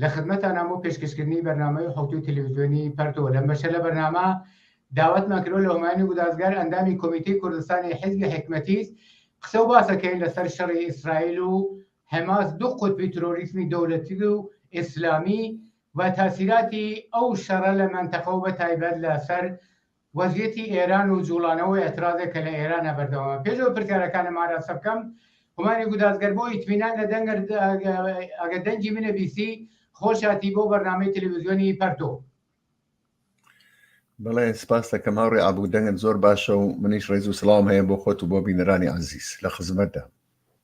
لە خدمەتانام بۆ پێشکەشکردنی بەرنامەی حوتوی تەلەڤیزیۆنی پەرتۆ لەم بەشە لە بەرنامە داوەتمان کرۆ لە هۆمانی گودازگار ئەندامی کۆمیتی کوردستانی حیزبی حکمەتیز قسە و باسەکەین لەسەر شەڕی ئیسرائیل و حەماس دوو قوتبی ترۆریسمی دەولەتی و ئیسلامی و تاسیراتی ئەو شەڕە لە مەنتەقە و بە تایبەت لەسەر وەزیەتی ئێران و جوڵانەوەی ئەترازێک کە لە ئێرانە بەردەوامە. پێش ئەوەی پرسیارەکانم ئاراستە بکەم، هومانی گوداز گەر بۆ ئیتمینان لە دەنگت ئەگەر دەنگی منت بیستی، خۆشهاتی بۆ بەرنامەی تەلەویزیۆنی پەرتۆ. بەڵێ سپاس دەکەم هاوڕێ ئابوو دەنگت زۆر باشە و منیش ڕێز و سڵاوم هەیە بۆ خۆت و بۆ بینەرانی عزیز لە خزمەتدا.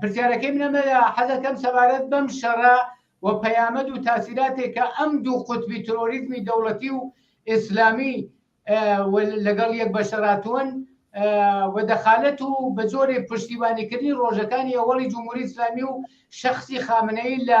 پرسیارەکەی منە مەلا حەزەکەم سەبارەت بەم شەڕە و پەیامەد و تاسیراتێک کە ئەم دوو قوتبی ترۆریزمی دەوڵەتی و ئیسلامی لەگەڵ یەک بەشەراتون و دەخالەت و بە جۆرێ پشتیبانیکردنی ڕۆژەکانی ئەوەڵی جمهوری ئسلامی و شخصی خامنەی لە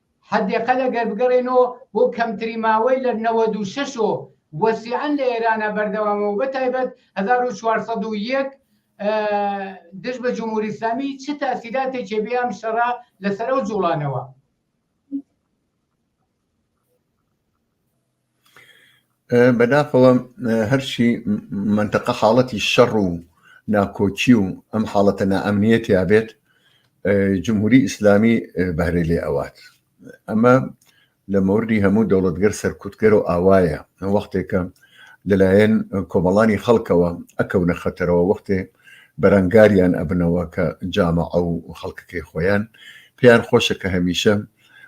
حدەقل ئەگەر بگەڕێنەوە بۆ کەمترین ماوەی لە نەوەد و شەش و وەسیعەن لە ئێرانە بەردەوامەو بە تایبەت هەزار و چوار سەد و یەک دژ بە جمهوری ئسلامی چ تاسیراتێکێ بێ ئەم شەڕە لەسەر ئەو جوڵانەوە بەداخەوە هەرچی منتەقە حاڵەتی شەڕ و ناکۆکی و ئەم حاڵەتە نائەمنیە تیاابێت جمهوری ئیسلامی بەرێ لێ ئەوات ئەمە لە مەوردی هەموو دەوڵەتگەر سەرکوتگەر و ئاوایە وەختێکە لەلایەن کۆمەڵانی خەڵکەوە ئەکەونە خەتەرەوە وەختێ بەرەنگاریان ئەبنەوە کە جامە ئەو خەڵکەکەی خۆیان پێیان خۆشە کە هەمیشە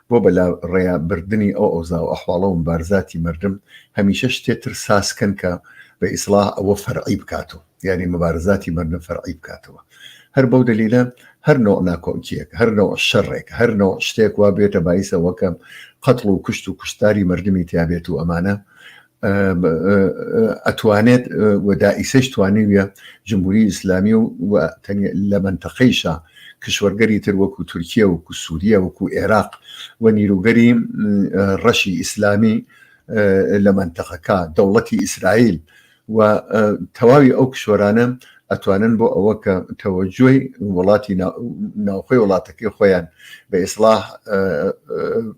بۆ بە لا ڕێیا بردنی ئەو ئەوزاو ئەحواڵە و مبارزاتی مردم هەمیشە شتێ تر ساز کەن کە بە ئیسڵاح ئەوە فەرعی بکاتەوە یانی مبارزاتی مردم فەرعی بکاتەوە هەر بەو دلیلە هەر نوع ناکۆکیەک هەر نوع شەڕێک هەر نوع شتێک وا بێتە بایسەوەکە قەتڵ و کوشت و کوشتاری مردمی تیابێت و ئەمانە ئەتوانێت وەدائیسەش توانیویە جمهوری ئیسلامی و لە منتەقەیشە کشوەرگەری تر وەکو تورکیا وەکو سووریا وەکو عێراق و نیروگەری ڕەشی ئیسلامی لە منتەقەکە دەوڵەتی ئیسرائیل و تەواوی ئەو کشوەرانە ئەتوانن بۆ ئەوە کە تەوەجۆی وڵاتی ناوخۆی وڵاتەکەی خۆیان بە ئیسلاح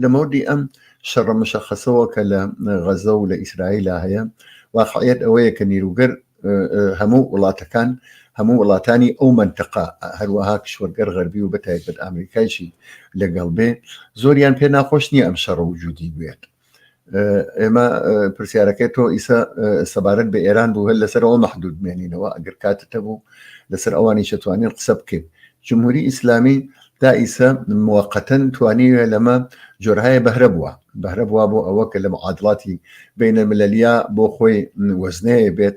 لە مەودی ئەم شەڕە مشەخەسەوە کە لە غەزە و لە ئیسرائیلا هەیە واقعیت ئەوەیە کە نیروگەر هەموو وڵاتەکان هەموو وڵاتانی ئەو منتەقا هەروەها کشوەرگەر غەربی و بەتایبەت ئەمریکایشی لەگەڵ بێ زۆریان پێ ناخۆش نییە ئەم شەڕە وجودی بێت ئێمە پرسیارەکەی تۆ ئیسا سەبارەت بە ئێران بوو هەر لەسەر ئەوە مەحدود مێنینەوە ئەگەر کاتتە بوو لەسەر ئەوانی شەتوانین قسە بکەین جمهوری ئیسلامی تا ئیسە موقتەن توانیوێ لەمە جۆرهایە بەهرە بووە بەهرە بووە بۆ ئەوە کە لە معادڵاتی بینە ملەلیا بۆ خۆی وەزنەیە بێت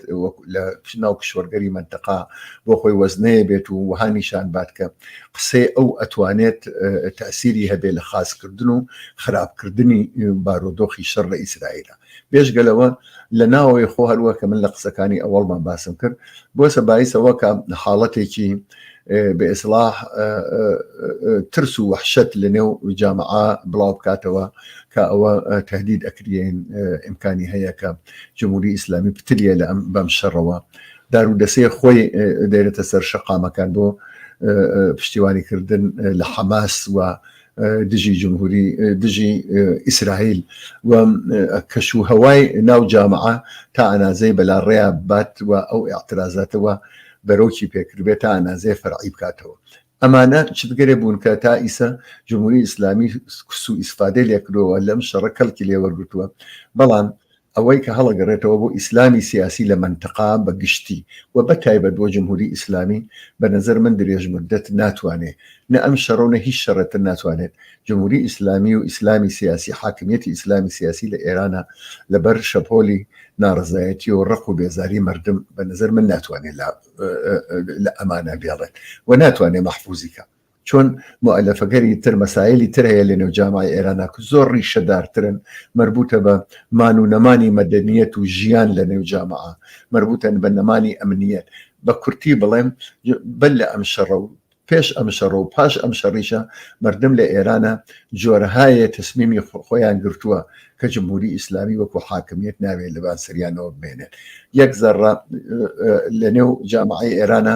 لە ناو کشوەرگەری منتەقا بۆ خۆی وەزنەیە بێت و وەها نیشان بات کە قسەی ئەو ئەتوانێت تەسیری هەبێ لە خاستکردن و خراپکردنی بارۆدۆخی شەڕ لە ئیسرائیلە بێژگە لەوە لە ناوەوەی خۆ هەروە کە من لە قسەکانی ئەوەڵمان باسم کرد بۆ سەبایسەوە کە حاڵەتێکی بە ئێسلاح ترس و وحشت لە نێو جامعا بڵاو بکاتەوە کە ئەوە تهدید ئەکرین ئیمکانی هەیە کە جمهوری ئیسلامی پتریە لە ئەم بەم شەڕەوە دارو دەسەی خۆی دێنێتە سەر شەقامەکان بۆ پشتیوانی کردن لە حەماس و دژی جمهوری دژی ئیسرائیل و کەش و هەوای ناو جامعە تا ئەنازەی بەلا ڕێیا بات و ئەو اعترازاتەوە بەرۆکی پێکردبێت تا ئەنازەیە فەرعی بکاتەوە ئەمانە چ بگەرێ بوون کە تا ئیسە جمهوری ئیسلامی کس و ئیسفادەی لێکرەوە لەم شەڕە کەڵکی لێوەرگتووە بەڵام ئەوەی کە هەڵەگەڕێتەوە بۆ ئیسلامی سیاسی لە مەنتقا بە گشتی و بە تایبەت بۆ جمهوری ئیسلامی بە نەزەر من درێژ موددەت ناتوانێ نە ئەم شەڕە و نە هیچ شەڕێ تر ناتوانێت جمهوری ئیسلامی و ئیسلامی سیاسی حاکمیەتی ئیسلامی سیاسی لە ئێرانا لە بەر شەپۆلی ناڕەزایەتی و ڕق و بێزاری مەردم بە نەزەر من ناتوانێت لە ئەمانە بێڵێت و ناتوانێت مەحفوزی کە چۆن موئەلەفەگەری تر مەسایلی تر هەیە لەنێو جامای ئێرانا کە زۆر ڕیشەدارترن مەربوتە بە مان و نەمانی مەدەنیەت و ژیان لەنێو جاماا مەربوتەن بە نەمانی ئەمنیەت بە کورتی بڵێم بەر لە ئەم شەڕە و پێش ئەم شەڕە و پاش ئەم شەڕیشە مردم لە ئێرانە جۆرەهایە تەسمیمی خۆیان گرتووە کە جمهوری ئیسلامی وەکو حاکمیت ناوێت لەبان سریانەوە بمێنێت یەک زەڕە لەنێو جامعی ئێرانە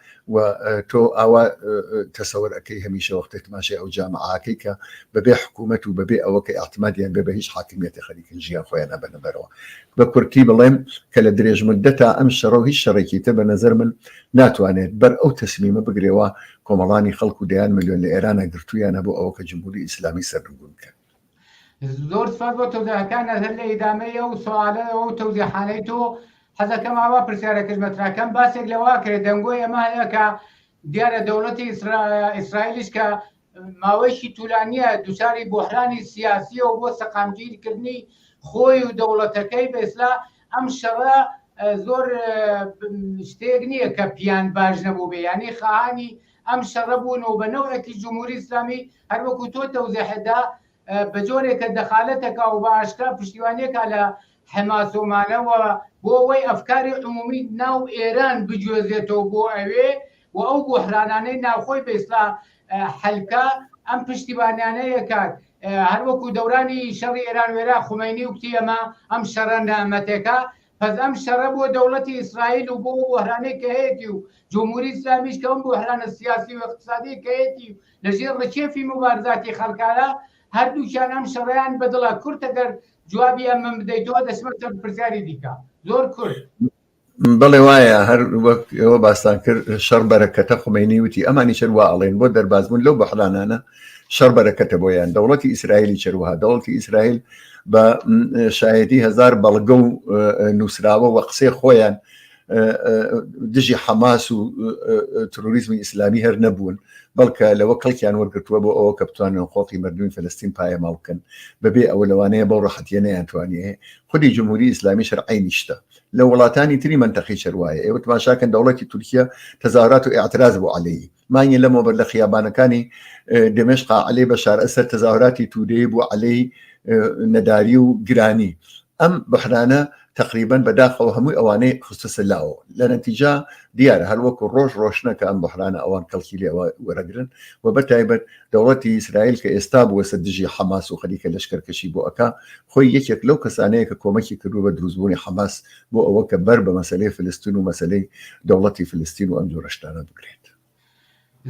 وە تۆ ئاوا تەسەوەر ئەکەی هەمیشە وەختێک تماشای ئەو جامەعاکەی کە بەبێ حکوومەت و بەبێ ئەوە کە ئاعتمادیان بێ بە هیچ حاکمیەتی خەریکن ژیان خۆیان نەبەنە بەرەوە بە کورتی بڵێم کە لە درێژ مدەتا ئەم شەڕە و هیچ شەڕێکی تر بە نظر من ناتوانێت بەر ئەو تەسمیمە بگرێەوە کۆمەڵانی خەڵک و دەیان ملیۆن لە ئێرانە گرتوویانە بۆ ئەوە کە جمهوری ئیسلامی سەرنگون بکەن زۆر سپاس بۆ تەوزەکان هەر لە ئیدامەی ئەو سوالە ئەو تەوزیحانەی تۆ حەزەکەم ئاوا پرسیارەکەش مەتراکەم باسێک لەوا کرێت دەنگۆی ئەمە هەیە کە دیارە دەوڵەتی ئیسرائیلیش کە ماوەیشی تولانیە دوچاری بۆحرانی سیاسیەوە بۆ سەقامگیرکردنی خۆی و دەوڵەتەکەی بێسلا ئەم شەڕە زۆر شتێک نییە کە پیان باش نەبوو بێ ینی خانی ئەم شەڕە بوون و بە نەوەکی جمهوری ئسلامی هەر وەکو تۆ تەوزێحت دا بە جۆرێکە دەخالەتەکە و بە ئاشکرا پشتیوانیەکە لە حەماسۆمانەوە بۆ ئەوەی ئەفکاری عمومی ناو ئێران بگوێزێتەوە بۆ ئەوێ و ئەو بۆحرانانەی ناوخۆی بەیسلا حەلکە ئەم پشتیبانیانەیە کات هەروەکو دەورانی شەڕی ئێران وێرا خومەینی و کتی ئەمە ئەم شەڕە نامەتێکە بەس ئەم شەڕە بۆ دەوڵەتی ئیسرائیل و بۆ بۆهرانەی کە هەیەتی و جمهوری ئیسلامیش کە ئەم بۆهرانە سیاسی و اقتصادی کە هەیەتی و لەژێر ڕکێفی مبارزاتی خەڵکانە هەردووکیان ئەم شەڕیان بەدڵە کورت ئەگەر جوابی ئەم من بدەیتەوە دەچمە چەند پرسیاری دیکە زۆر کورت بڵێ وایە هەر وەک ئەوە باستان کرد شەڕ بەرەکەتە خومینی وتی ئەمانی چەر وا ئەڵێن بۆ دەربازبوون لەو بەحرانانە شەڕ بەرەکەتە بۆیان دەوڵەتی ئیسرائیلی چروها دەوڵەتی ئیسرائیل بە شایەتی هزار بەڵگە و نووسراوە و قسەی خۆیان دژی حەماس و تروریزمی ئیسلامی هەر نەبوون بەڵکە لەوە کەڵکیان وەرگتووە بۆ ئەوە کە بتوانن خۆقی مردوی فلستین پایەماڵ بکەن بەبێ ئەوە لەوانەیە بەو ڕحەتە نەیانتوانێ خودی جمهوری ئیسلامی شەرعی نیشتە لە وڵاتانی تری منتەقی چروایە ئێوە تماشاکەن دەوڵەتی تورکیا تەزارات و اعتراز بۆ عليهەیە مانگی لەمەوبەر لە خیابانەکانی دمشقا عەلەی بەشار ئەسەر تەزاوراتی تودەی بوو عەلەی نەداری و گرانی ئەم بەحرانە تقریبان بەداخەوە هەمووی ئەوانەی خستەسە لاوە لە نەتیجا دیارە هەروەکو ڕۆژ ڕۆشنەکە ئەم بەحرانە ئەوان کەڵکی لێوە وەرەگرن و بە تایبەت دەوڵەتی ئیسرائیل کە ئێستا بووەسە دژی حەماس و خەریکە لەشکەرکەشی بۆ ئەەکە خۆی یەکێک لەو کەسانەیە کە کۆمەکی کردو بە دروستبوونی حەماس بۆ ئەوە کە بەر بە مەسەلەی فلستن و مەسەلەی دەوڵەتی فلستین و ئەم جۆرە شتانە بگرێت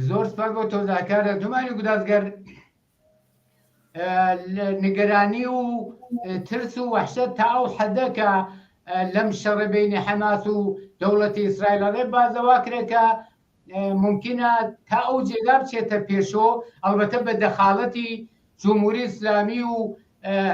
زۆر سپاس بۆ تۆزاکارە دومانی گودازگەر نیگەرانی و ترس و وحشە تا ئەو حەدەکە لەم شەڕە بینی حەماس و دەوڵەتی ئیسرائیلەڕێ بازەوا کرێکە مومکینە تا ئەو جێگا بچێتە پێشۆ ئەڵبەتە بە دەخاڵەتی جمهوری ئیسلامی و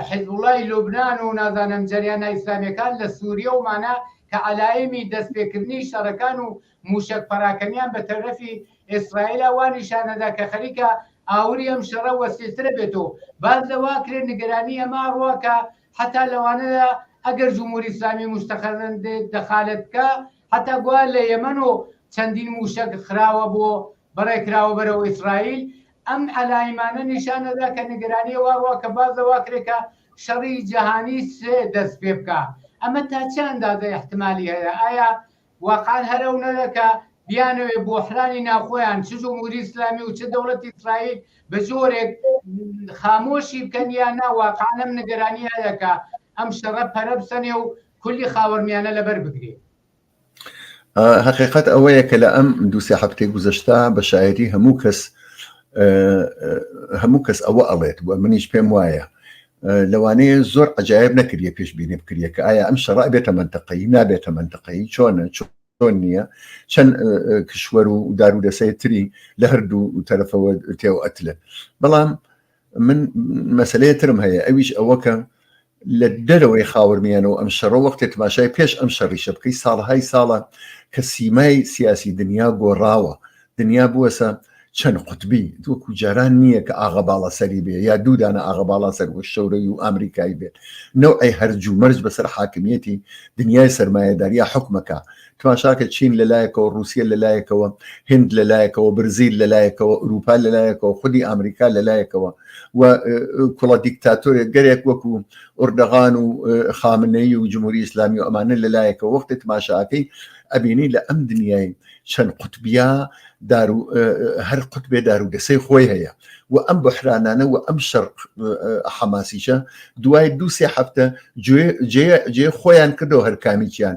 حزبوڵای لوبناان و نازانم جریانە ئیسلامیەکان لە سووریە و مانە کە علایمی دەستپێکردنی شەڕەکان و موشک پەراکەنیان بە تەرەفی ئیسرائیلا وا نیشانەدا کە خەریکە ئاوری ئەم شەڕە وەسیترە بێتەوە باز لەوا کرێ نیگەرانی ئەما ڕواکە حتا لەوانەیە ئەگەر جمهوری ئیسلامی مستەخەرندێت دەخالت بکە هەتا گوایە لە یەمەن و چەندین مووشەک خراوە بۆ بەڕێ کراوە بەرەو ئیسرائیل، ئەم عەلایمانە نیشان ئەدا کە نیگەرانیە وا ڕوە کە بازە وا کرێ کە شەڕی جەهانی سێ دەست پێ بکا. ئەمە تا چ ئەندازە ئیحتمالی هەیە؟ ئایا واقعەن هەر ئەو نەرە کە بیانەوێ بۆحرانی ناوخۆیان چ جمهوری ئیسلامی و چ دەوڵەتی ئیسرائیل بە جۆرێک خامۆشی بکەن یا نا واقعەن ئەم نیگەرانیە هەیە کە ئەم شەڕە پەرە بسەنێ و کولی خاوەرمیانە لەبەر بگرێ حقیقت ئەوەیە کە لە ئەم دووسێ هەفتەی گوزەشتا بە شاعری هەموو کەس هەموو کەس ئەوە ئەڵێت وە منیش پێم وایە لەوانەیە زۆر عجاایب نەکردە پێش بینێ بکرە کە ئایا ئەم شەڕ بێتە منتەقەی نابێتە منتەقەی چۆنە چۆن نییە چەند کشوەر و دار و دەسەیە تری لە هەردوو تەرەفەوە تێو ئەتلە بەڵام من مەسلەیە ترم هەیە ئەویش ئەوەکە لە دەرەوەی خاورمیانەوە ئەم شەڕە وەختێ تماشای پێش ئەم شەڕیشە بکەی ساڵهای ساڵە کە سیمای سیاسی دنیا گۆڕاوە دنیا بووەسە چەند قوتبی وەکو جاران نییە کە ئاغا باڵا سەری بێ یا دوودانە ئاغا باڵا سەر بۆ شەورەوی و ئامریکایی بێت نەوعی هەرجوو مەرج بەسەر حاکمیەتی دنیای سەرمایەداریا حکومەکە تماشاکە چین لەلایەکەوە رووسە لەلایەکەوە هند لەلایەکەوە برزیل لەلایەکەوە ئوروپا لەلایەکەوە خودی ئەمریکا لەلایەکەوە و کوڵە دیکتاتۆرێک گەرێک وەکو ئوردەغان و خامنەی و جمهوری ئیسلامی و ئەمانە لەلایەکەوە وەختی تماشاکەی ئەبینی لە ئەم دنیای چەند قوتبیا دارو هەر قوتبێ دارو دەسەی خۆی هەیە و ئەم بحرانانە و ئەم شەر حەماسیشە دوای دوو سێ هەفتە جێ خۆیان کردەوە هەرکامیان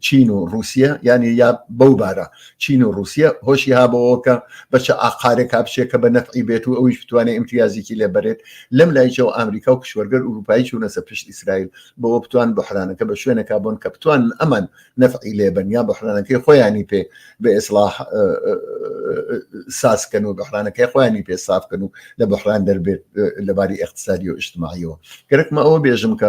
چین و رووسە یعنی یا بەو بارە چین و رووسە هۆشی هابەوەکە بەچە ئاقارێک هاپچێت کە بە نەفعی بێت و ئەویش بتوانێت ئیمتیازیکی لێ بەرێت لەم لایچەوە ئەمریکا و کشوەرگەر ئوروپایی چوونەسە پشت ئیسرائیل بەوە بتوان بحرانەکە بە شوێنەکە بۆن کە بتوان ئەمان نەفعی لێبن یا بحرانەکەی خۆیانی پێ بە ئێسلاح سازکەن و بحرانەکەی خۆیانی پێ سافکەن و لە بحران دەربێت لەباری اقتصادی و اجتماعیەوە گەرەکمە ئەوە بێژم کە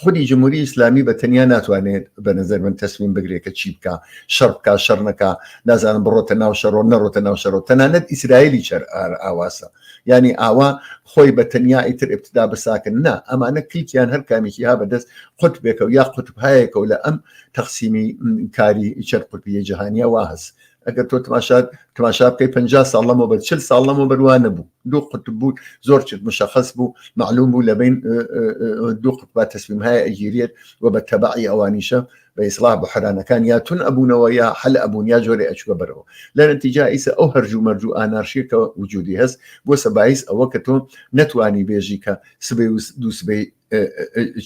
خودی جمهوری ئیسلامی بە تەنیا ناتوانێت بە نظر من تەسمیم بگرێت کە چی بکە شەڕ بکە شەڕ نەکە نازانم بڕۆتە ناو شەڕۆ نەڕۆتە ناو شەڕۆ تەنانەت ئیسرائیلی چەر ئاواسە ینی ئاوا خۆی بە تەنیا ئیتر ابتدا بساکن نا ئەمانە کلکیان هەر کامیکی ها بەدەست قوت بێکە و یا قوتبهایەکە و لە ئەم تەقسیمی کاری چەر قوتبیە جیهانیە واهز ئەگەر تۆ تماشات تماشا بکەی پ ساڵ لەمە بەر چل ساڵ لەمە بەروان نەبوو دوو قوت بوو زۆر چت مشخص بوو معلوم بوو لەبین دوو قوتبا تەسمیم هەیە ئەگیرێت و بە تەبعی ئەوانیشە بە ئیسلاح بە حرانەکان یا تون ئەبوونەوە یا حل ئەبوون یا جۆری ئەچوە بەرەوە لە نەتیجا ئیسە ئەو هەرجوو مەرجوو ئانارشیەکە وجودی هەست بۆ سەبایس ئەوە کە تۆ نەتوانی بێژی کە سبەی و دووسبەی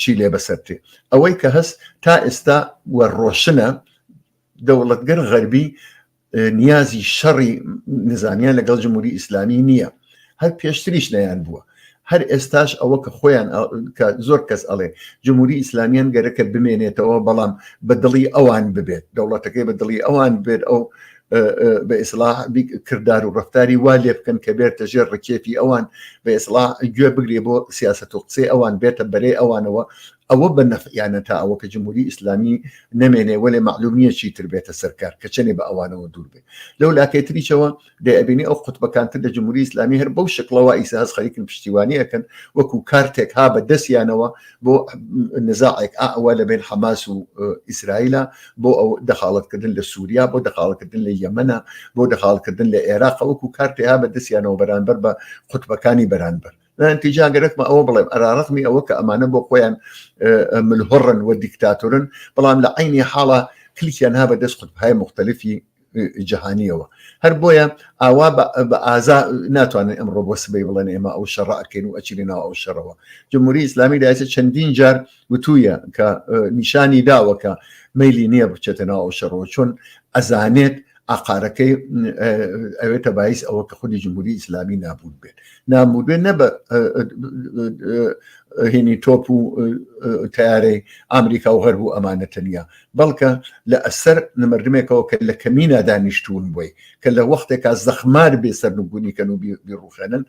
چی لێ بەسەرتێ ئەوەی کە هەست تا ئێستا وە ڕۆشنە دەوڵەتگەر غەربی نیازی شەڕی نزانیان لەگەڵ جمهوری ئیسلامی نییە هەر پێشتریش نیان بووە هەر ئێستاش ئەوە کە خۆیان کە زۆر کەس ئەڵێ جمهوری ئیسلامیان گەرەکە بمێنێتەوە بەڵام بە دڵی ئەوان ببێت دەوڵەتەکەی بە دڵی ئەوان بێت ئەو بە ئیسلا کردار و ڕفتاری وا لێ بکەن کە بێتە ژێر ڕکێفی ئەوان بە ئێسلا گوێ بگرێ بۆ سیاست و قسەی ئەوان بێتە بەرەی ئەوانەوە ئەوە بە نەفعیانە تا ئەوە کە جمهوری ئیسلامی نەمێنێ وەلێ مەعلوم نییە چی تر بێتە سەر کار کە چەنێ بە ئەوانەوە دوور بێ لەو لاکەی تریشەوە دەیبینی ئەو قوتبەکان تر لە جمهوری ئیسلامی هەر بەو شکڵەوە ئیسە هەز خەریکن پشتیوانی ئەکەن وەکو کارتێک ها بە دەستیانەوە بۆ نزاعێک ئەوە لە بین حەماس و ئیسرائیلە بۆ ئەو دەخاڵەتکردن لە سووریا بۆ دەخاڵکردن لە یەمەە بۆ دەخاڵکردن لە عێراق وەکو کارتێها بە دەستیانەوە بەرانبەر بە قوتبەکانی بەرانبەر نتیجا گەرەکمە ئەوە بڵێم ئەراڕخمی ئەوە کە ئەمانە بۆ خۆیان ملهڕن و دیکتاتورن بەڵام لە عینی حاڵە کلیکیان ها بە دەست قوتبهای مختلفی جیهانیەوە هەر بۆیە ئاوا بە ئازا ناتوانن ئەمڕۆ بۆ سبەی بڵێن ئێمە ئەو شەڕکەین و ئەچی ناو ئەو شەڕەوە جمهوری ئسلامی داچە چەندین جار وتوویە کە نیشانی داوەکە میلی نییە بچێتە ناو ئەو شەڕەوە چۆن ئەزانێت ئاقارەکەی ئەوێتە باعیس ئەوە کە خودی جمهوری ئیسلامی نابود بێت نامود بێت نە بە هینی تۆپ و تارەی ئامریکا و غەرب و ئەمانە تەنیا بەڵکە لە ئەسەر نمردمێکەوە کە لە کەمینا دانیشتون بووی کە لە وەختێکا زەخمار بێ سەرنگونی کەن و بیڕوخێنن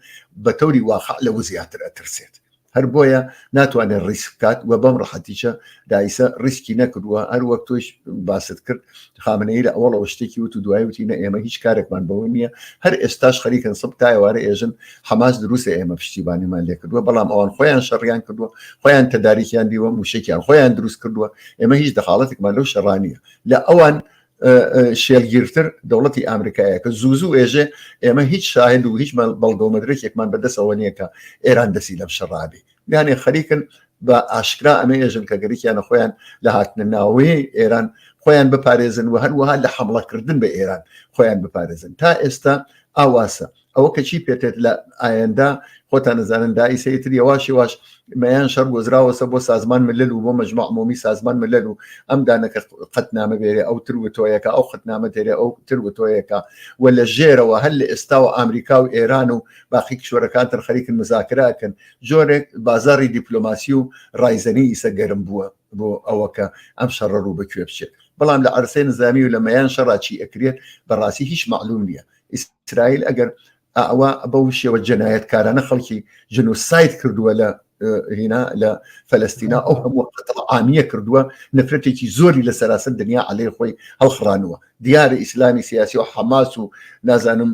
بە تەوری واقع لەوە زیاتر ئەترسێت هەر بۆیە ناتوانێت ڕیسک بکات و بەم ڕحەتیشە دایسە ڕیسکی نەکردووە هەر وەک تۆش باست کرد خامنەی لە ئەوڵەوە شتێکی وت و دوای وتینە ئێمە هیچ کارێکمان بەوە نییە هەر ئێستاش خەریکن سب تایوارە ئێژن حەماس دروستە ئێمە پشتیبانیمان لێ کردووە بەڵام ئەوان خۆیان شەڕیان کردووە خۆیان تەداریکیان دیوە موشێکیان خۆیان دروست کردووە ئێمە هیچ دەخاڵەتێکمان لەو شەڕانیە لە ئەوان شێلگیرتر دەوڵەتی ئامریکایە کە زوو زوو ئێژێ ئێمە هیچ شاهد و هیچ بەڵگەومەدرێکێکمان بەدەسەوە نییە کە ئێران دەسی لەم شەڕابی یانێ خەریکن بە ئاشکرا ئەمە ێژن کە گەریکیانە خۆیان لە هاتنە ناوەیە ئێران خۆیان بپارێزن و هەروەها لە حملەکردن بە ئێران خۆیان بپارێزن تا ئێستا ئاواسە ئەوە کە چی پێتێت لە ئایەندا خۆتان نزانن دای سەیتر یواش یواش مەیان شەر گۆزراوەسە بۆ سازمان ملل و بۆ مەجموعمۆمی سازمان ملل و ئەم دانەکە قەت نامە بێرێ ئەو تر وتۆیەکە ئەو خەتنامە دێرێ ئەو تر وتۆیەکە و لە ژێرەوە هەر لە ئێستا و ئامریکا و ئێران و باقی کشوەرەکان تر خەریکن مزاکراکەن جۆرێک بازاری دیپلۆماسی و ڕایزەنی ئیسە گەرم بووە بۆ ئەوەکە ئەم شەڕە ڕوو بەکوێ بچێت بەڵام لە عرسێ نزامی و لە مەیان شەڕاچی ئەکرێت بەڕاستی هیچ معلوم نییە ئیسرائیل ئەگەر ئەوە بەو شێوە جەنایەتکارانە خەڵکی جنوسایت کردووە لە هینا لە فەلستینا ئەو هەموو ئامیە کردووە نفرەتێکی زۆری لە سەراسەر دنیا علێ خۆی هەڵخڕانوە دیارە ئیسلامی سیاسی و حەماس و نازانم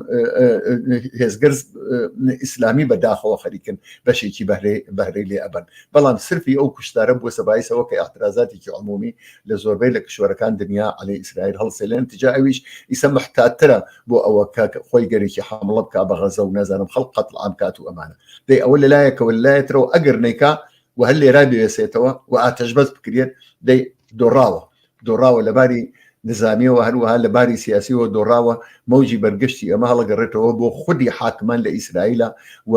هێزگەر ئیسلامی بەداخەوە خەریکن بەشێکی بەهرەی بەهرەی لێ ئەبن بەڵام سرفی ئەو کوشتارە بۆ سەبایسەوە کە ئاعترازاتێکی عمومی لە زۆربەی لە کشوەرەکان دنیا علی ئیسرائیل هەڵسێلێن تجا ئەویش ئیسە محتاترە بۆ ئەوە کە خۆی گەرێکی حمڵە بک بە غەزە و نازانم خەڵ قەت عام کات و ئەمانە دەی ئەوە لەلایەکەوە لایەترەوە ئەگەر نیکا و هەر لێرا بێسێتەوە و ئاتەش بەس بکرێت دەی دۆڕاوە دۆڕاوە لەباری نزانیەوە هەروەها لەباری سیاسیەوە دۆڕاوە مەوجی بەرگشتی ئەمە هەڵگەڕێتەوە بۆ خودی حاکمان لە ئیسرائیلە و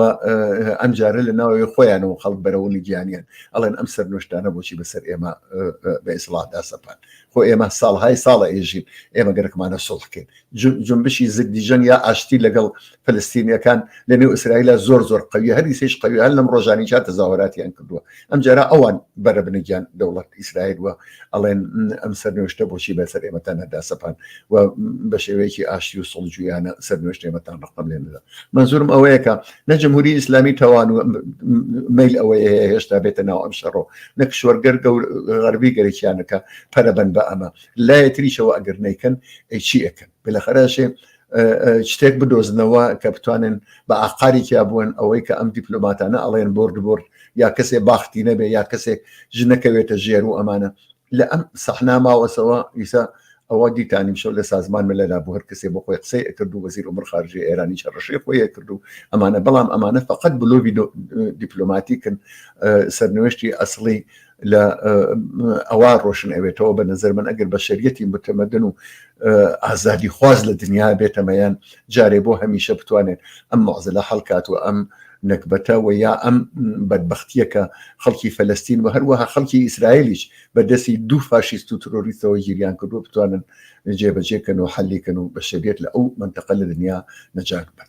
ئەمجارە لە ناوەوەی خۆیانەوە خەڵک بەرەوەنی گیانیان ئەڵێن ئەم سەر نوشتانە بۆچی بەسەر ئێمە بە ئیسڵاتدا سەپان خۆ ئێمە ساڵهای ساڵە ئێژین ئێمە گەرەکمانە سڵحکەین جنبشی زگدیژەن یا ئاشتی لەگەڵ فلستینیەکان لە نێو ئیسرائیلە زۆر زۆر قوی هەریسیش قوی هەر لەم ڕۆژانی چا تەزاوەراتیان کردووە ئەمجارە ئەوان بەرە بنەگیان دەوڵەت ئیسرائیل وە ئەڵێن ئەم سەرنوشتە بۆچی بە سەر ئێمەتان نەدا سەپان و بە شێوەیەکی ئاشتی و سڵجویانە سەرنوشت ئێمەتان ڕقم لێ ندا منزورم ئەوەیەکە نە جمهوری ئیسلامی تەوان و میل ئەوەیە هێشتا بێتە ناو ئەم شەڕۆ نە کشوەرگەر غەربی گەرەکیانەکە پەرەبەن بە ئەمە لایەتریشەوە ئەگەر نیکەن ئەی چی ئەەکەن بلەخەرەشێ شتێک بدۆزنەوە کە بتوانن بە ئاقارێکیا بوون ئەوەی کە ئەم دیپلۆماتانە ئەڵێن برد برد یا کەسێ باختی نەبێ یا کەسێک ژنەکەوێتە ژێر و ئەمانە لە ئەم سەحنا ماوەسەوە ئیسا ئەوە دیتانیم شەو لە سازمان ملەدا بۆ هەر کەسێ بۆ خۆی قسەی ئەکرد و وەزیر عمر خارجی ئێرانی چڕشی خۆی کرد و ئەمانە بەڵام ئەمانە فقط بلۆوی دیپلۆماتیکن سەرنوێشتی ئەسڵی لە ئەوە ڕۆشن ئەوێتەوە بە نظر من ئەگەر بەشریەتی متمەدن و ئازادی خواز لە دنیا بێتەمەیان جارێ بۆ هەمیشە بتوانێت ئەم مەزلە هەڵکات و ئەم نەکبەتە و یا ئەم بەدبختیەکە خەڵکی فەلستین و هەروەها خەڵکی ئیسرائیلیش بە دەستی دوو فاشیست و ترۆریستەوە گیریان کردو بتوانن جێبەجێکەن و حەلیکەن و بەشریت لە ئەو منتەقە لە دنیا نەجات بن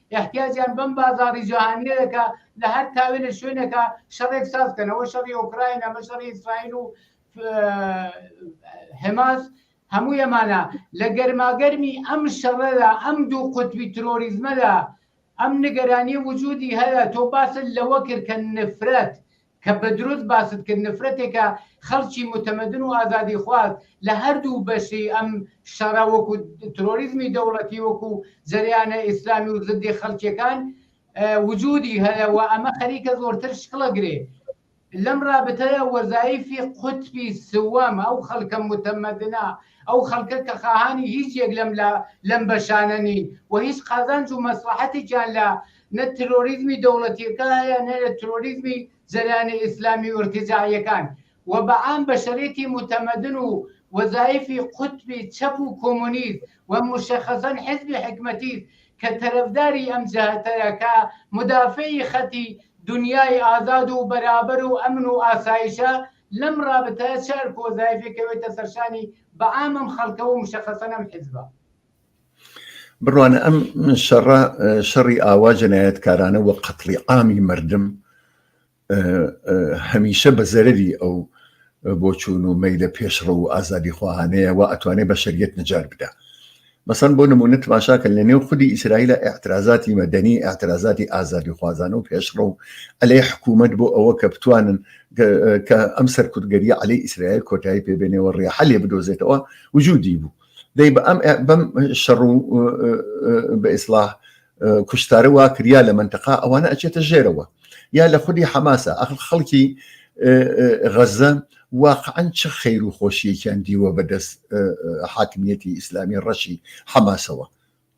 ئیحتیاجیان بەم بازاڕی جەهانییە دەکا، لە هەر تاوێ لە شوێنێکا شەڕێک ساز کەن، ئەوە شەڕی ئۆکراین، ئەمە شەڕی ئیسرائیل و حماس، هەمووی ئەمانە. لە گەرماگەرمی ئەم شەڕەدا، ئەم دوو قوتبی ترۆریزمەدا، ئەم نیگەرانییە وجودی هەیە، تۆ باست لەوە کرد کە نفرەت، کە بە دروست باست کرد نفرەتێکە خەڵکی متمدن و ئازادی خواز لە هەردوو بەشی ئەم شەڕە وەکو ترۆریزمی دەوڵەتی وەکو جەریانە ئیسلامی و زدی خەڵکیەکان وجودی هەیە و ئەمە خەریکە زۆرتر شکڵە گرێ لەم رابتەیە وەزایفی قوتبی سوەم ئەو خەڵکە متمدنا ئەو خەڵکە کە خاهانی هیچ یەک لەم لە لەم بەشانە نین و هیچ قازانج و مەسلحەتێکیان لە نە ترۆریزمی دەوڵەتیەکە هەیە نە لە ترۆریزمی جەریانە ئیسلامی و ئیرتجاعیەکان و بە عام بەشەرێتی موتەمەدن و وەزایفی قوتبی چەپ و کۆمۆنیست و موشەخەسەن حیزبی حکمەتیست کە تەرەفداری ئەم جەهەتەیە کە مودافعی خەتی دونیای ئازاد و بەرابەر و ئەمن و ئاسایشە لەم رابتایە چ ئەرک و وەزایفێک کەوێتە سەرشانی بە عام ئەم خەلکە و موشەخەسەن ئەم حیزبە. بڕوانە ئەم شەڕە شەڕی ئاوا جەنایەتکارانە وە قەتڵی ئامی مردم هەمیشە بە زەرری ئەو بۆچوون و مەیلە پێشڕە و ئازادی خواهانەیە و ئەتوانێت بە شەریت نجار بدا مەسەن بۆ نمونە تماشاکە لە نێو خودی ئیسرائیلە اعترازاتی مەدەنی اعترازاتی ئازادی خوازان و پێشڕە و ئەلێ حکوومەت بۆ ئەوە کە بتوانن کە ئەم سەرکوتگەری عليه ئیسرائیل کۆتایی پێبێنەوە ڕێحە لێ بدۆزێتەوە وجودی بوو دەی بە ئەم بەم شەڕ و بە ئیسلاح کوشتارە وا کریا لە منتەقا ئەوانە ئەچێتە ژێرەوە یا لە خودی حەماسە ئەخ خەڵکی غەزە واقعەن چ خەیر و خۆشیەکیان دیوە بەدەست حاکمیەتی ئیسلامی ڕەشی حەماسەوە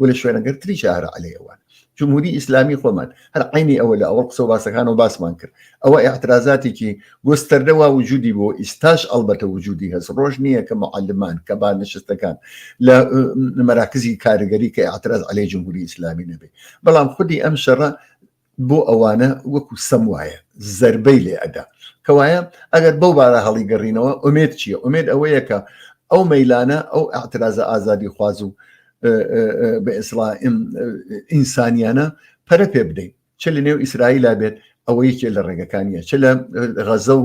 و لە شوێنەگەر تریش هەر عەلەی ئەوان جمهوری ئیسلامی خۆمان هەر عینی ئەوە لە ئەوە قسە باسەکان و باسمان کرد ئەوە اعترازاتێکی گۆستەردەوا وجودی بۆ ئیستاش ئەڵبەتە وجودی هەست ڕۆژ نییە کە معلمان کە با نشستەکان لە مەراکزی کارگەری کە اعتراز عليه جمهوری ئیسلامی نەبێ بەڵام خودی ئەم شەڕە بۆ ئەوانە وەکو سەم وایە زربەی لێ ئەدا کەوایە ئەگەر بەو بارە هەڵی گەڕینەوە ئومێد چییە ئومێد ئەوەیە کە ئەو مەیلانە ئەو ئەترازە ئازادی خواز و بە ئێسلا ئینسانیانە پەرە پێ بدەین چ لە نێو ئیسرائیلا بێت ئەوە یەکێ لە ڕێگەکانیە چ لە غەزە و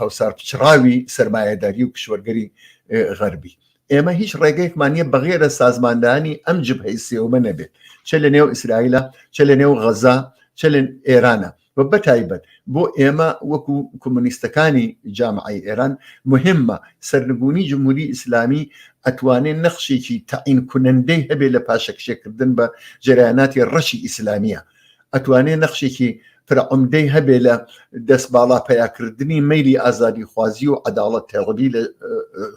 هەوسار پچڕاوی سرمایهداری و کشوەرگەری غەربی ئێمە هیچ ڕێگەیەکمان نیە بەغێرە سازماندانی ئەم جبهەی سێومە نەبێت چ لە نێو ئیسرائیلە چ لە نێو غەزا چ لە ئێرانە و بەتایبەت بۆ ئێمە وەکو کۆمونیستەکانی جامعی ئێران مهمە سەرنگونی جمهوری ئیسلامی ئەتوانێت نەخشێکی تەعین کونەندەی هەبێت لە پاشەکشێکردن بە جریاناتی ڕەشی ئیسلامیە ئەتوانێ نەخشێکی فرەعمدەی هەبێ لە دەست باڵا پیاکردنی میلی ئازادی خوازی و عداڵەت تێڕبی لە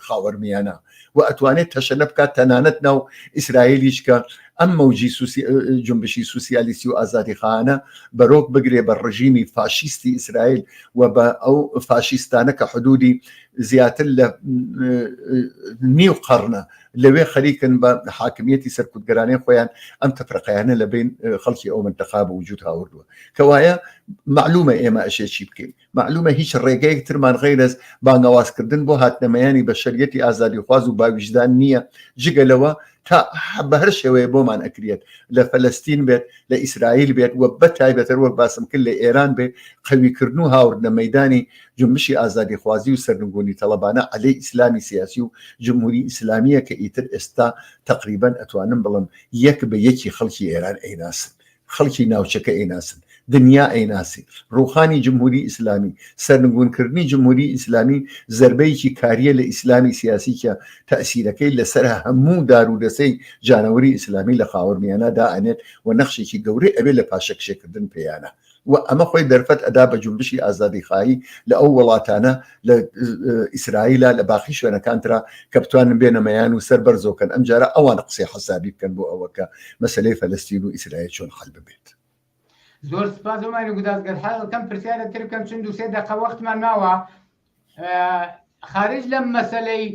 خاوەرمیانە و ئەتوانێت تەشەنە بکات تەنانەت ناو ئیسرائیلیش کە ئەم مەوجی جنبشی سوسیالیستی و ئازادی خانە بەرۆک بگرێ بە ڕژیمی فاشیستی ئیسرائیل و بە ئەو فاشیستانە کە حدودی زیاتر لە نیو قڕنە لەوێ خەریکن بە حاکمیەتی سەرکوتگەرانەی خۆیان ئەم تەفرەقەیانە لە بین خەڵکی ئەو منتەقا بە وجود هاوردووە کەوایە معلومە ئێمە ئەشێ چی بکەین معلومە هیچ ڕێگەیەک ترمان غیرەز بانگەوازکردن بۆ هاتنەمەیانی بە شەریەتی ئازادی خواز و باویژدان نییە جگە لەوە تا بە هەر شێوەیە بۆمان ئەکرێت لە فەلستین بێت لە ئیسرائیل بێت و بە تایبەتەر وەک باسم کرد لە ئێران بێت قەویکردن و هاوردنە مەدانی جونبشی ئازادیخوازی و سەرنگونی تەڵەبانە عەلەی ئیسلامی سیاسی و جمهوری ئیسلامیە کە ئیتر ئێستا تەقریبەن ئەتوانم بڵم یەک بە یەکی خەڵکی ئێران ئەیناسن، خەڵکی ناوچەکە ئەیناسن، دنیا ئەیناسی. ڕوخانی جمهوری ئیسلامی، سەرنگون کردنی جمهوری ئیسلامی زەربەیەکی کاریە لە ئیسلامی سیاسی کە تەئسیرەکەی لە سەر هەموو دارودەسەی جانەوەری ئیسلامی لە خاوەرمیانە دائەنێت و نەخشێکی گەورەی ئەبێت لە پاشەکشێکردن پێیانە. و ئەمە خۆی دەرفەت ئەدا بە جومبشی ئازادیخایی لە ئەو وڵاتانە لە ئیسرائیلا لە باقی شوێنەکانترا کە بتوانن بێنە مەیان و سەر بەرزۆکەن ئەم جارە ئەوان قسەی حەسابی بکەن بۆ ئەوەکە مەسلەی فەلستین و ئیسرائیل چۆن حل ببێت زۆر سپاس ئەمانی گوداز گەر حەڵکەم پرسیارە تر بکەم چون دوسێ دەقە وەختمان ماوە خارج لەم مەسلەی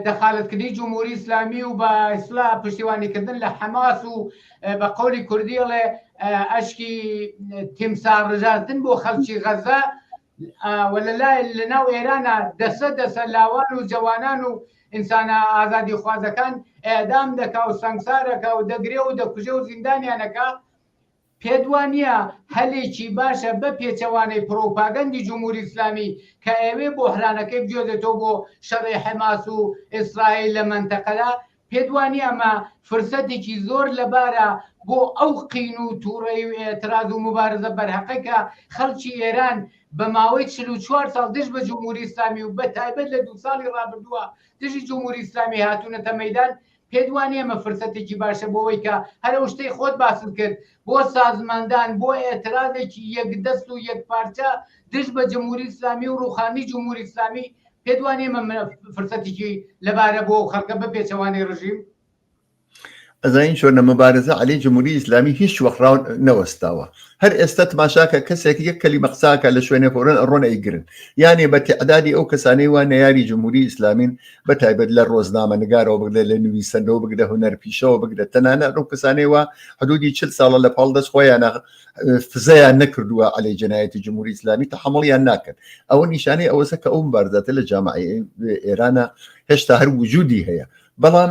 دەخالەتکردنی جمهوری ئیسلامی و بە ئیسلا پشتیوانیکردن لە حەماس و بە قولی کوردیڵێ ئەشکی تیمسا ڕژاندن بۆ خەلکی غەزە وەلای لە ناو ئێرانە دەسە دەسە لاوان و جوانان و ئینسانە ئازادی خوازەکان ئێدام دەکا و سنگسارەکە و دەگرێ و دەکوژێ و زیندانیانەکە پێت وا نیە هەلێکی باشە بە پێچەوانەی پڕوپاگەندی جمهوری ئیسلامی کە ئەیەوێ بۆحرانەکەی بجۆزێتەوە بۆ شەڕی حەماس و ئیسرائیل لە مەنتەقەدا؟ پێت وا نیە ئەمە فرسەتێکی زۆر لەبارە بۆ ئەو قین و توڕەیی و ئیعتراز و موبارزە بەرهەقەی کە خەڵکی ئێران بە ماوەی چل و چوار ساڵ دژ بە جمهوری ئیسلامی و بە تایبەت لە دوو ساڵی ڕابردووە دژی جمهوری ئیسلامی هاتوونەتە مەیدان پێت وانیە ئەمە فرسەتێکی باشە بۆ ئەوەی کە هەر ئەو شتەی خۆت باست کرد بۆ سازماندان بۆ ئێترازێکی یەک دەست و یەک پارچە دژ بە جمهوری ئیسلامی و ڕوخانی جمهوری ئیسلامی پێت وانیە ئەمە منە فرسەتێکی لەبارە بۆ خەڵکە بە پێچەوانەی ڕژیم ئەزانین چۆنە مەبارزە علی جمهوری ئیسلامی هیچ وەخراون نەوەستاوە هەر ئێستا تماشاکە کەسێک یەک کەلی مەقساکە لە شوێنێ خۆرن ڕۆن ئەیگرن یانێ بە تعدادی ئەو کەسانەی وان نەیاری جمهوری ئیسلامین بە تایبەت لە ڕۆزنامە نگارەوە بگرە لە نوویسەرەوە بگرە هوەر پیشەوە بگرە تەنانە ڕوو کەسانەوە حدودی چل ساڵە لە پاڵ دەست خۆیان فزیان نەکردووە علی جنایەتی جمهوری ئسلامی تەحمڵیان ناکەن ئەوە نیشانەی ئەوەسە کە ئەوم بارداتە لە جامعی ئێرانە هێشتا هەر وجودی هەیە بەڵام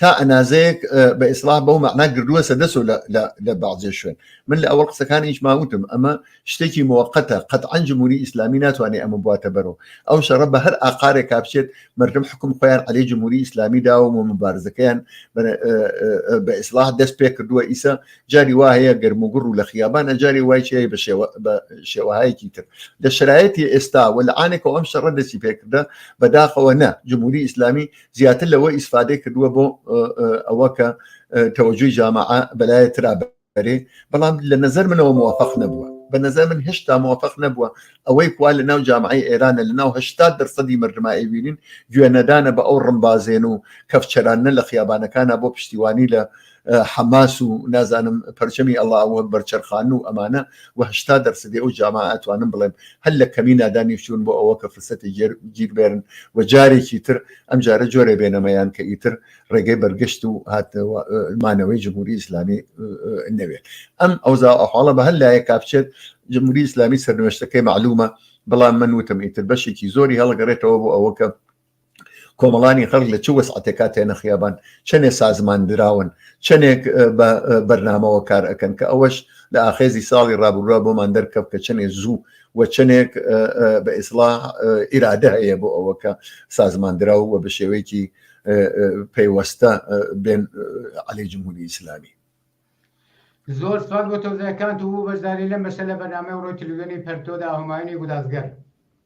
تا ئەنازەیەک بە ئیسلاح بەو مەعنا گردووە سە دەسو لە بازێ شوێن من لە ئەوە قسەکان هیچ ماوتم ئەمە شتێکی موقتە قەت ئەنجموری ئیسلامی ناتوانێت ئەمە بواتە بەرەوە ئەو شەڕە بە هەر ئاقارێک کاپچێت مردم حکم خۆیان علی جمهوری ئیسلامی داوە و مبارزەکەیان بە ئیسلاح دەست پێ کردووە ئیسە جاری وا هەیە گەرم و گوڕ و لە خیابانە جاری وای چێ بە شێوەهایەکی تر لە شرایەتی ئێستا و لە ئاانێکەوە ئەم شەڕە دەستی پێکردە بەداخەوە نە جمهوری ئیسلامی زیاتر لەوە ئیسفادەی کردووە بۆ ئەوە کە تەوەجوی جامع بەلایە تررا بەرێ بەڵام لە نظر منەوە موفق نەبووە بە نظر من هشتا موفق نەبووە ئەوەی کوا لە ناو جامعی ئێرانە لە ناو هشتا دەرسەدی مردمایبیین گوێنەدانە بە ئەو ڕمبازێن و کەفچەرانە لە خیابانەکانە بۆ پشتیوانی لە حەماس و نازانم پەرچەمی ئەڵاوە بەرچەرخان و ئەمانە وهشتا دەرسدی ئەو جاما ئەتوانم بڵێم هەل لە کەمی نادانیشتون بۆ ئەوە کە فرسەتی گێر گیربێرن و جارێکی تر ئەم جارە جۆرە بێنەمەیان کە ئیتر ڕێگەی بەرگشت و هاتمانەوەی جمهوری ئیسلامی نەوێت ئەم ئەوزا ئەحواڵە بە هەل لایە کاپچێت جمهوری ئیسلامی سەرنوێشتەکەی معلومە بەڵام من وتم ئیتر بەشێکی زۆری هەڵگەڕێتەوە بۆ ئەوە کە کۆمەڵانی خەڵک لە چ وەسعاتێکا تێنە خیابان چەندێ سازمان دراون چەندێک بە بەرنامەوە کار ئەەکەن کە ئەوەش لە ئاخێزی ساڵی ڕابروە بۆمان دەرکەف کە چەندێ زوو و چەندێک بە ئیسلا ئیرادە هەیە بۆ ئەوەکە سازماندرا و بە شێوەیەکی پەیوەستە بێن علی جمهوری ئیسلامی زۆر سوال بۆ تۆزەکان و بۆ بەشداری لەم بەشە لە بەنامە ڕۆی تلوێنی پەرتۆدا هەمایانی گودازگەر